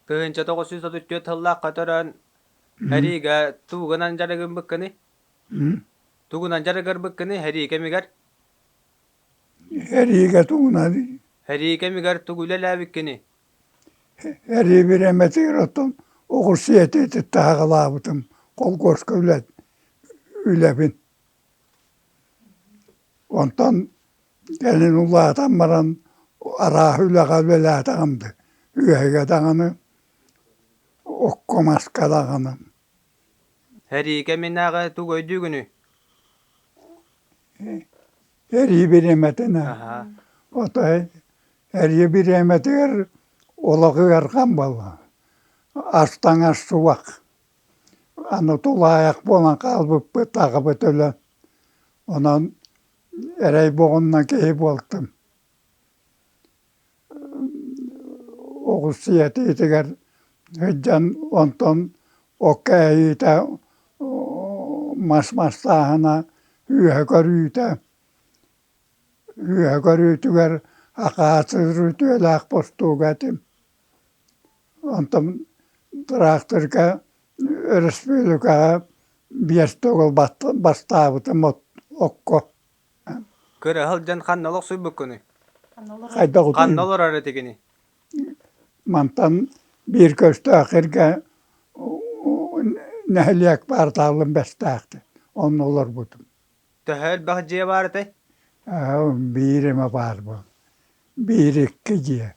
Тыһыынча тоҕус сүүс отут түөрт сыллаах көтөрөн эриигэ тугунан дьарыгырбыккыный? Тугунан дьарыгырбыккыный эрии кэмигэр? Эриигэ тугунан? Эрии кэмигэр тугу үлэлээбиккиний? Эрии бириэмэтигэр оттон оҕурсу этиитит таһаҕалаабытым. Холкуоска үлэ, үлэбин. Онтон кэлин улаатан баран арааһы үлэҕэ үлэлээтэҕим да үөһэгэ даҕаны окко маска даҕаны Эриикэ миннээҕи тугу өйдүүгүнүй? Эрии бириэмэтинэ ото эрии бириэмэтигэр олох ыархан буолла ас таҥас субах Аны тулаайах буолан хаалбыппыт, аҕабыт өлөн, онон эрэй буолунна киһи буолтум. Оҕус ийэтитигэр сылдьан онтон окко эһиитэ мас мастааһына, үөһэ көрүүтэ, үөһэ көрүүтүгэр акаасыр үтүөлээх бостууга этим. Онтон тыраахтырка өрөспүүлүкэҕэ биэс да оҕо бастаабытым окко Кыраһыл дьон ханна олохсуйбуккунуй? Ханна олорор этигиний? Мантан биир көстөөх эргэ нэһилиэк баартаалым бэстээхтин онно олорбутум Төһө элбэх дьиэ баар этэй? Аһы биир эмэ баарбын, биир икки дьиэ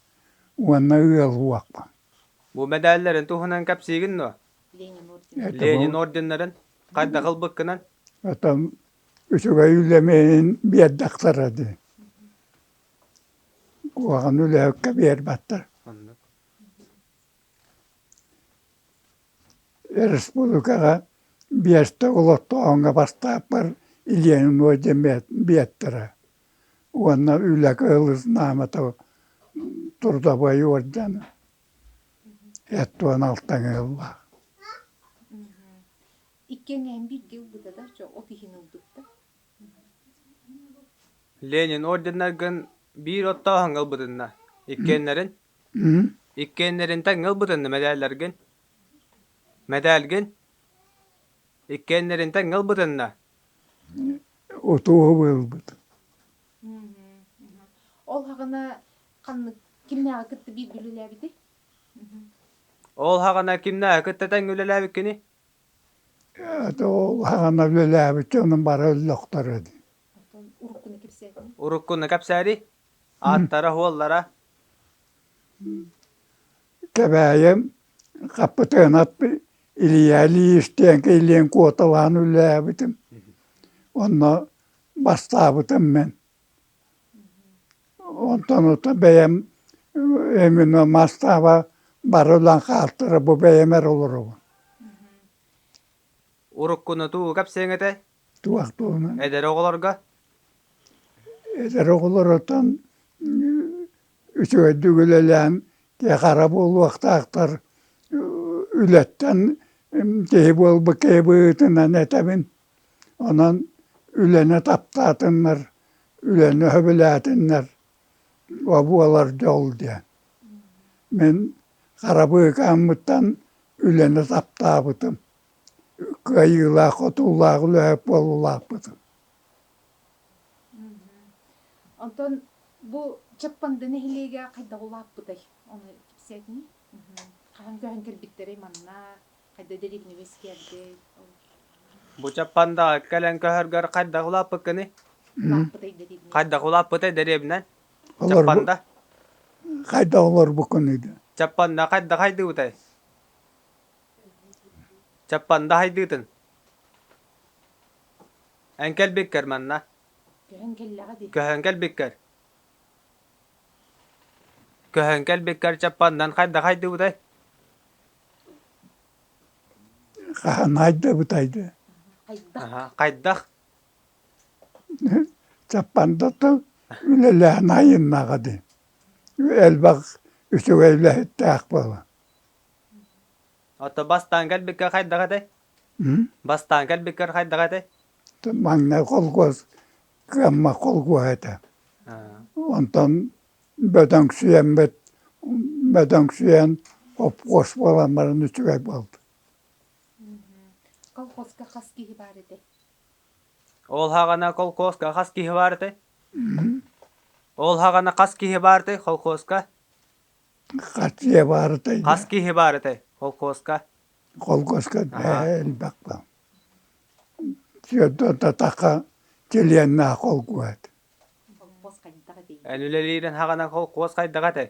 уонна ыал уохпун. Бу мэдээллэрин туһунан кэпсиигин дуо? Это Ленин бу- орденнарын хайдах ылбыккынан? это үчүгэй үлэмэһин биэрдэхтэрэ дии. Куһаҕан үлэһиккэ биэрбэттэр. Оннук. Өрөспүүбүлүкэҕэ биэстэ олохтооһуҥҥа бастааппар Ленинуо диэн биэттэрэ уонна Үлэ кыһыл знамота трудовой орден эт уон алтан ыаллаах Иккиэннээн бииргэ ылбыта да чо от иһин ылбыттар Ленин орденнаргын биир оттооһуҥҥа ылбытынна иккиэннэрин Мгм. Иккиэннэринтэн ыал бытынны мэдээллэргин? Мэдээлгин? Иккиэннэринтэн ыал бытынна? Отууһу ылбыт. Мгм, мгм. Ол һаҕана ханнык кимнээҕи кытта бииргэ үлэлээбитий? Мгм. Ол һаҕана кимнээҕи кытта тэҥҥэ үлэлээбиккиний? Ата ол һаҕана үлэлээбит дьонум бары өллөхтөрө дии. Оттон уруккуну кэпсээтиҥ? Уруккуну кэпсээри? Ааттара-суоллара Кэбээйэм Хаппытыанап Илья Ильич диэнки илиэн куоталаан үлэлээбитим. Онно бастаабытым мен. Онтон ото бэйэм эмино мастааба бары улан хаартыра бу бэйэм эр олоробун. Уруккунутуу кэпсиэҥ этэ туох туһунан Эдэр оҕолорго эдэр оҕолорутан үчүгэйдик үлэлээн киэхара буолуохтаахтар үлэттэн киһи буолбут киһи быһыытынан этэбин онон үлэни таптаатыннар үлэни сөбүлээтиннэр о буолар дьол диэн мин хара быыкааммыттан үлэни таптаабытым кыайыылаах отуулаах үлэһит буола улааппытым Онтон бу Чаппанды нэһилиэгэ хайдах улааппытай? Ону кэпсээтиҥ? Хаһан көһөн кэлбиттэрэй манна? Хайда дэриэбинэ үөскээбитэй? Бу Чаппандаҕа кэлэн көһөргөр хайдах улааппыккыный? Улааппытай дэриэбинэ. Хайдах улааппытай дэриэбинэн? Чаппанда. Хайдах олорбуккунуй да? Чаппанда хайда хайдыбытай? Чаппанда хайдыытын Эн кэлбиккэр манна Көһөн кэлбиккэр Көһөн кэлбиккэр Чаппандан хайда хайдыбытай Хаһан хайдыбытай дэ Хайдах Чаппанда тыл Үлэлээн айыннаҕа ди Элбэх үчүгэй үлэһиттээх буолан Ото бастаан кэлбиккэ хайдах этэй? Бастаан кэлбиккэр хайдах этэй? Манна холкуос кыаммат холкуос этэ. Онтон бөдөҥсүйэммит, бөдөҥсүйэн хопкуос буоламмарын үчүгэй буолда. Колхозка хас киһи баар этэ? Ол хаҕана колхозка хас киһи баар этэ? Ол хаҕана хас киһи баар этэ колхозка? Хас дьиэ баарытай? Хас киһи баар этэй холкуоска? Холкуоска элбэхпэ. Сөрдө-татаха чилиэннээх холкуос. Холкуос хайдах этэй? Эн үлэлиирин хаҕынан холкуос хайдах этэй?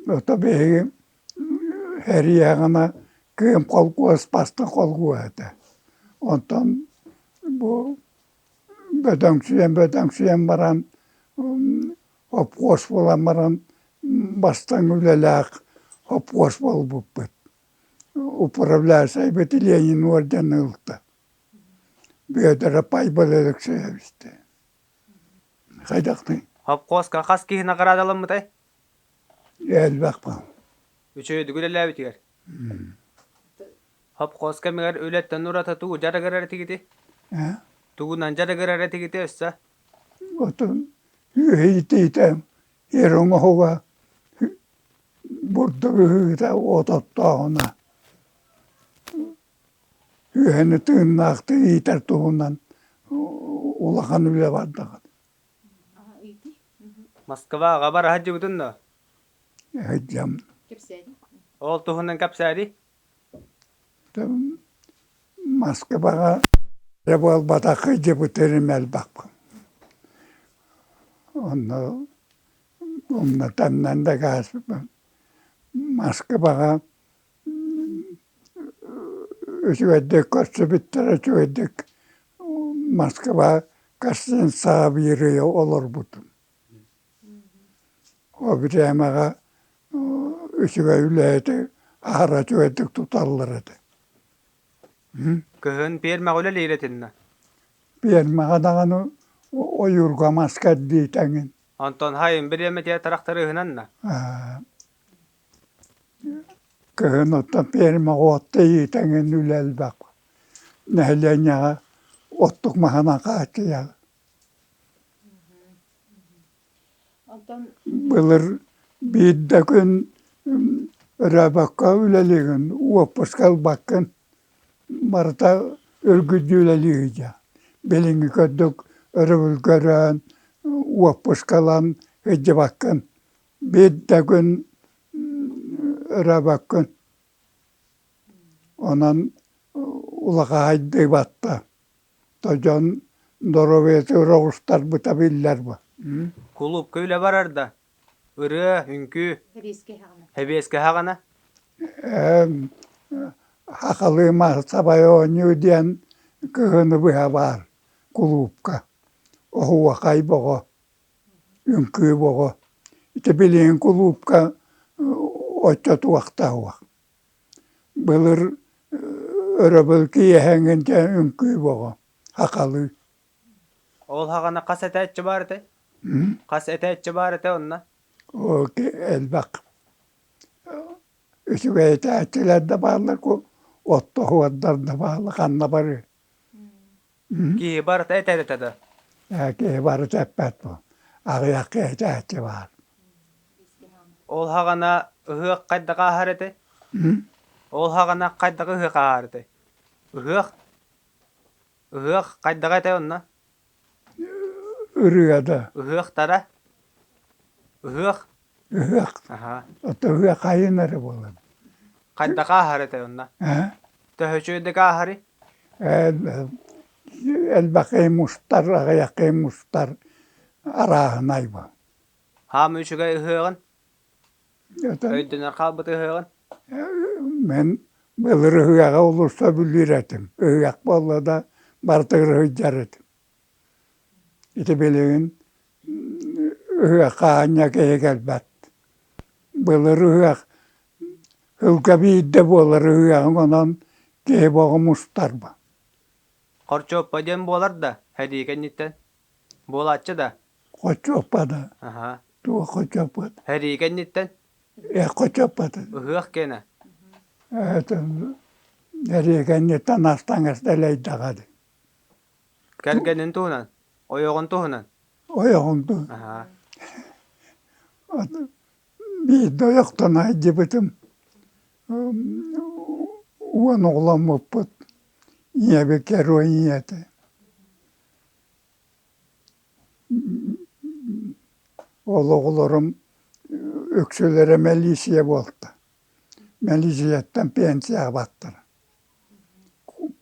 Ото биһиги эрийэҕинэ кыым холкуос пастан холкуос этэ. Онтон бу бөдөҥсүйэн-бөдөҥсүйэн баран Хоппуос буолан баран бастаҥ үлэлээх хоппуос буолбуппут. Управляющайбыт Ленин орден ылта. Бүөтүрэ Пайбыл Алексеевичтэ. Хайдахтың? Хоппуоска хас киһи наҕараадаламмытай? Элбэх бал. Үчүгэйдик үлэлээбитигэр. Хоппуос кэмигэр үлэттэн ураты тугу дьарыгырар этигити? Э? Тугунан дьарыгырар этигити өссө? отун үөһиитиитэ эр оҥоһуга бурдук ыһыыта уот оттооһуна үөһэни тыыннаахтык иитэр туһунан улахан үлэ бардаҕа Москва аҕабар аһатдьыбытын доо? Аһатдьам. Кэпсээди. Ол туһунан кэпсээди. маска баҕа эрэ буолбатахха дьыбыты эрэ элбэхпин онно умна таҥнан да кааспын маска баҕа үчүгэйдик көрсүбүттэрэ үчүгэйдик маска баҕа каждый день саабыырыйа олорбутум Ол кээмэҕэ үчүгэй үлэһити аһара үчүгэйдик туталлар этэ Кыһын пиэрмэҕэ үлэлиир этиннэ Пиэрмэҕэ даҕаны ойуурга маска эрдии тэҥин Онтон хайын бириэмэ театрах тырыыһынанна Кыһын оттон пиэрмэҕэ от тэйии тэҥин үлэ элбэх нэһилиэнньэҕэ оттук маһынан хааччыйар Былыр биирдэ күн ырыабакка үлэлиигин, уоппуска ылбаккын, барыта үргүдүү үлэлииһи дьэ. Билиҥҥи курдук өрөбүлгэ ырыан, уоппуска ылан сылдьыбаккын. Биирдэ күн ырыабаккын. Онон улахаһайдыы батта. дьон доруобуйатыгар оҕустарбыта биллэр бу кулуупка үлэ барарда ырыа үҥкүү хэбиэскэһэҕинэ хахалыы маассабай оонньуу диэн кыһыны быһа баар кулуупка оһуохай бөҕө үҥкүү бөҕө ити билигин кулуупка оччо туохтаах уох Былыр өрөбүл киэһэҥҥин дьэ үҥкүү боҕо хахалыы Ол хаҕана хас этээччи баар этэй? Хас этээччи баар этэ онно? Оо элбэх үчүгэй этээччилэр да бааллар оттоһуордар да бааллар ханна барыай Киһи барыта этэр этэ да Ээ киһи барыта эппэт буол аҕыйахха этээччи баар Ол хаҕана ыһыах хайдах ааһар этэй? Ол хаҕана хайдах ыһыах ааһар этэй? Ыһыах ыһыах хайдах этэй онно? ырыада Ыһыахтара Ыһыах ыһыах аһаа ото ыһыах айан эрэ буолан хантан ааһар этэй онно ээ төһөчүөдүк ааһарый элбэхий мустар аҕыйахый мустар арааһын айба хаама үчүгэй ыһыаҕын Этэн өйдөнөн хаалбыт ыһыаҕын Мин былыр ыһыаҕа олорсо бүлүүр этим. Ыһыах буолла да барытыгар ыһыйдар этим. Ити билигин ыһыахха аанньа киһи кэлбэт. Былыр ыһыах сылга биирдэ буолар ыһыаҕын онон киһи бөҕө мустарба. Хорчуоппа диэн буолар да, сэрии кэнниттэн Буолааччы да? Хочоппана. Аһа. Туох хочоппат? Эрии кэнниттэн? Э хочоппатын. Ыһыах киэнэ. Этин эриэгэнниттэн астаҥас дэлэйдэҕэр. Кэргэнин туһунан? Ойоҕун туһунан? Ойоҕун туһунан. Аһа. Биирдэ ойохтон айдьыбытым. Уон оҕоломмуппут. Ийэбит герой ийэтэ. Ол оҕолорум үксүлэрэ мэлиисийэ буолта. Мэлиисийэттэн пенсияҕа бардылар.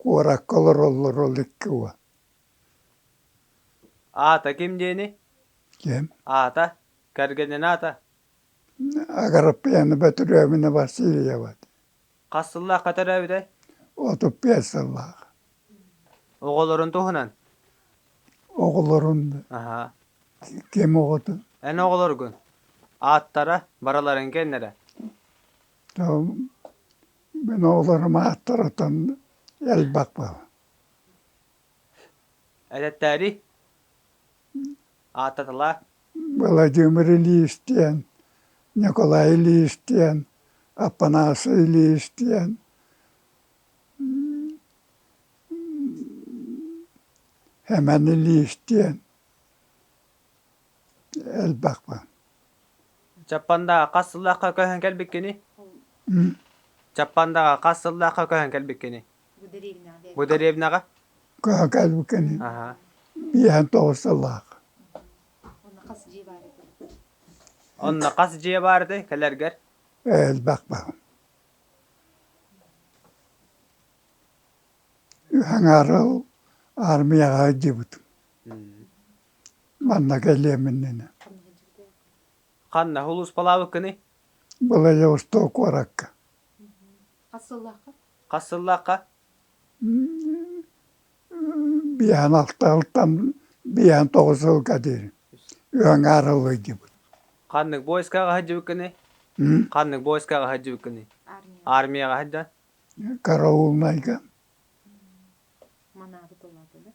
Куоракка олороллор ол икки уол. Аата ким диэни? Ким? Аата, кэргэнин аата? Агараппыйаны Бөтүрөөбүнэ Васильева. Хас сыллаахха төрөөбүтэй? Отут биэс сыллаах. Оҕолорун туһунан? Оҕолорун. Аха. Ким оҕотун? Эн оҕолоргун? Ааттара, бараларын кэннэрэ? Мин оҕолорум ааттарытын элбэхпин. Эдэттээри? ааттатылаа Владимир Ильич диэн, Николай Ильич диэн, Апанасий Ильич диэн, Эмэн Ильич диэн элбэх баар. Чаппандаҕа хас сыллаахха көһөн кэлбиккиний? Чаппандаҕа хас сыллаахха көһөн кэлбиккиний? Бу дэриэбинэҕэ? Кыһа кэлбикини. Биэһэн тоҕус сыллаах. Онно хас дьиэ баарый кэлэргэр? Элбэх баар. Хаҥаары армияҕа дьыбытым. Манна кэлиэминнэнэ. Ханна улууспалаабыккыный? Былай Восток куоракка. Хас сыллаахха? Хас сыллаахха? Биэһин алта алтан биэһин тоҕус сылга диир ыаҥаар ыллыйдыбыт. Ханнык боискаҕа сылдьыбыккыный? Ханнык боискаҕа сылдьыбыккыный? Армияҕа сылдьа. Караулнайга. Манаабы тыллаатылар.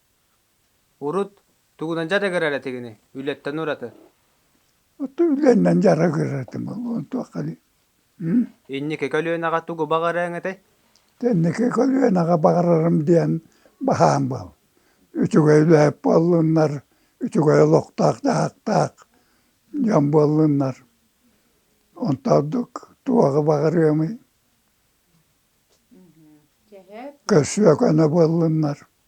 Урут тугунан дьарыгырар этигиний? Үлэттэн ураты. Оттон үлэннэн дьарыгырар этим буолуон туохханый Инники көлүөнэҕэ тугу баҕарыаҥ этэй? Инники көлүөнэҕэ баҕарарым диэн баһаам буол. Үчүгэй үлэһит буоллуннар, үчүгэй олохтоох дьаһахтаах дьон буоллуннар. Онто ордук туоҕу баҕарыамый? Көрсүө көнө буоллуннар.